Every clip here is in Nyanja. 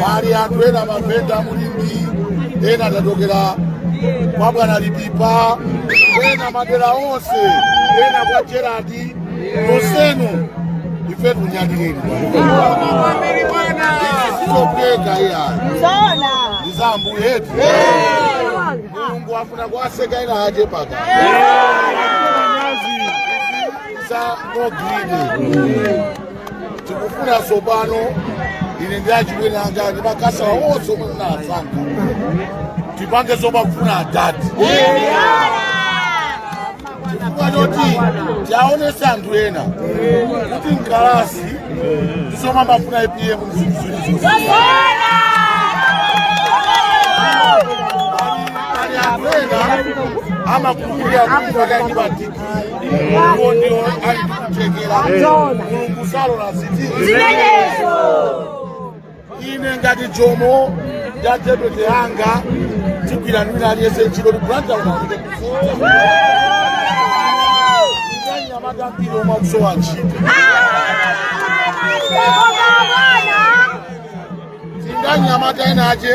pali anthu ena mavenda mulimbi ena tatokera kwa bwana lipipa ena madera onse ena kwa jeradi nonsenu ife tinyadireni isitopeka iyayi iyi ndi mphamvu yathu mulungu afuna kuwatseka ena aje paka za no green tikufuna tsopano ine ndi achibwana anga ndi makasala onse omwe munawasankha tipange zomwe akufuna adadi chifukwa choti tiwaonetse anthu ena kuti mkalasi ndizomwe amafuna apm muzimvu izo ali anthu ena amakhulupirira kuti pakati pa dpp Mulungu ndiwo ali kuchekera. Ndona. Mulungu salora zinthu. Zimenezo. Ine ngati jomo ya deputy yanga tigwira ndi wina aliyense ntchito tikulanda unaike kufuta. Ndanyamata ambiri omwe akusowa ntchito. Koma bwana. Ndanyamata ena ache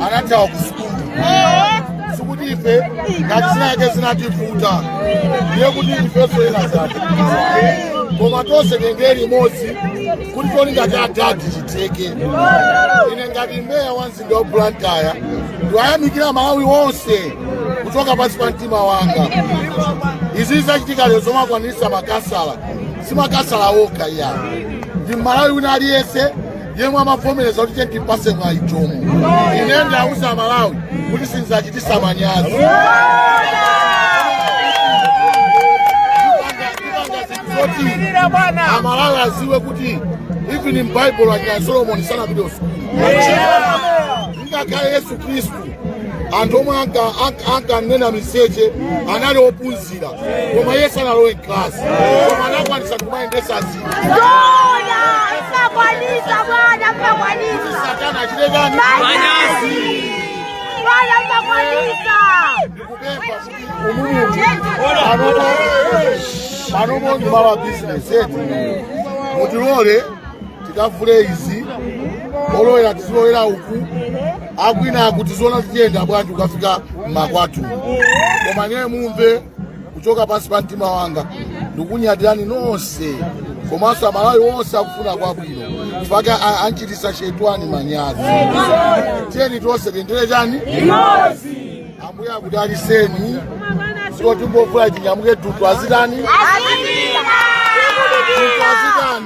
anathawa ku sukulu sikuti ife ngati zinayake zinativuta ndiye kuti ifenso ena zativuta koma tonse tiyendere limodzi kuti tili ngati adadi chiteke ine ngati meya wa mzinda wa blantyre ndikuyamikira amalawi onse kuchoka pansi pa mtima wanga izi zachitikazi zomwe akwanirisa makasala si makasala okha iyayi ndi mmalawi wina aliyense yemwe amavomereza kuti tiyeni timpase mwayi Jomo. Ine ndikuwauza Amalawi kuti sindidzawachititsa manyazi. Amalawi aziwe kuti even m'Baibulo anya Solomon sanapite kusukulu. Ngakhale Yesu Kristu anthu omwe anka- anka- ankanena miseche anali ophunzira koma yesu sanalowe mklasi koma anakwanitsa kumayendetsa zinthu satana achite manyazi panopo ndi malo a bizinesi eti mutilole tikavule izi olowera tizilowera uku akuyina akuti zona tiyenda bwanji ukafika mmakwathu koma ndiye mumve kuchoka pansi pa mtima wanga ndikunyadirani nonse komanso aMalawi onse akufuna kwabwino mpaka a- anchititsa shetani manyazi tiyeni tonse tendere chani ambuye akudalitseni siko timbofuna tinyamuke dutu azitani dutu azitani